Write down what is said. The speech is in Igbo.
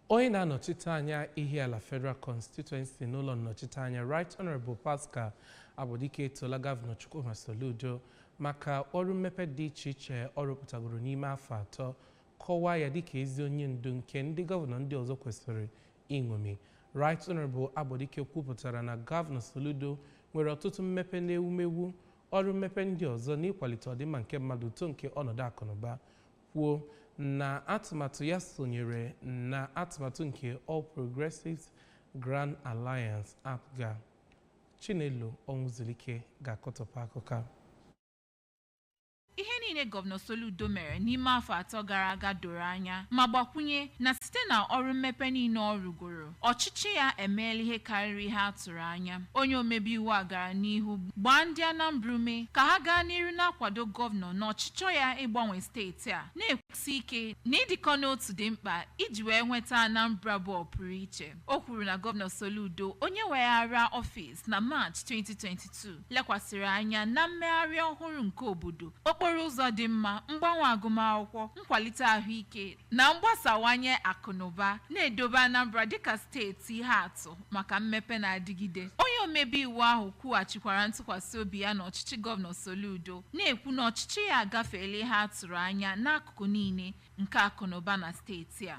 Onye na-anọchite anya Ihiala Federal Constituency n'ụlọ nnọchiteanya Right Honourable Pascal Agbodike etoola Gọvanọ Chukwuma Soludo maka ọrụ mmepe dị iche iche ọ rụpụtagoro n'ime afọ atọ, kọwaa ya dịka ezi onye ndu nke ndị gọvanọ ndị ọzọ kwesịrị iṅomi. Right Honourable Agbodike kwupụtara na Gọvanọ Soludo nwere ọtụtụ mmepe n'ewumewu, ọrụ mmepe ndị ọzọ n'ịkwalite ọdịmma nke mmadụ, uto nke ọnọdụ akụnụba, kwuo na atụmatụ ya sonyere na atụmatụ nke All Progressives Grand Alliance APGA. Chinelo Ọnwụzulike ga-akọtọpụ akụkọ. Ihe niile Gọvanọ Soludo mere n'ime afọ atọ gara aga doro anya ma gbakwunye na site na ọrụ mmepe niile ọ rụgoro Ọchịchị ya emeela ihe karịrị ihe a tụrụ anya. Onye omebe iwu a gara n'ihu gbaa ndị Anambra ume ka ha gaa n'iru na-akwado gọvanọ na ọchịchọ ya ịgbanwe steeti a, na-ekwusi ike na ịdịkọ n'otu dị mkpa iji wee nweta Anambra bụ ọpụrụiche. O kwuru na Gọvanọ Soludo, onye weghara ọfịs na Maachị 2022, lekwasịrị anya na mmegharị ọhụrụ nke obodo, okporo ụzọ dị mma, mgbanwe agụmakwụkwọ, nkwalite ahụike, na mgbasawanye akụnụba na-edobe Anambra dịka steeti ihe atụ maka mmepe na-adịgide. Onye omebe iwu ahụ kwughachikwara ntụkwasị obi ya n'ọchịchị Gọvanọ Soludo, na-ekwu na ọchịchị ya agafeela ihe a tụrụ anya n'akụkụ niile nke akụnụba na steeti a.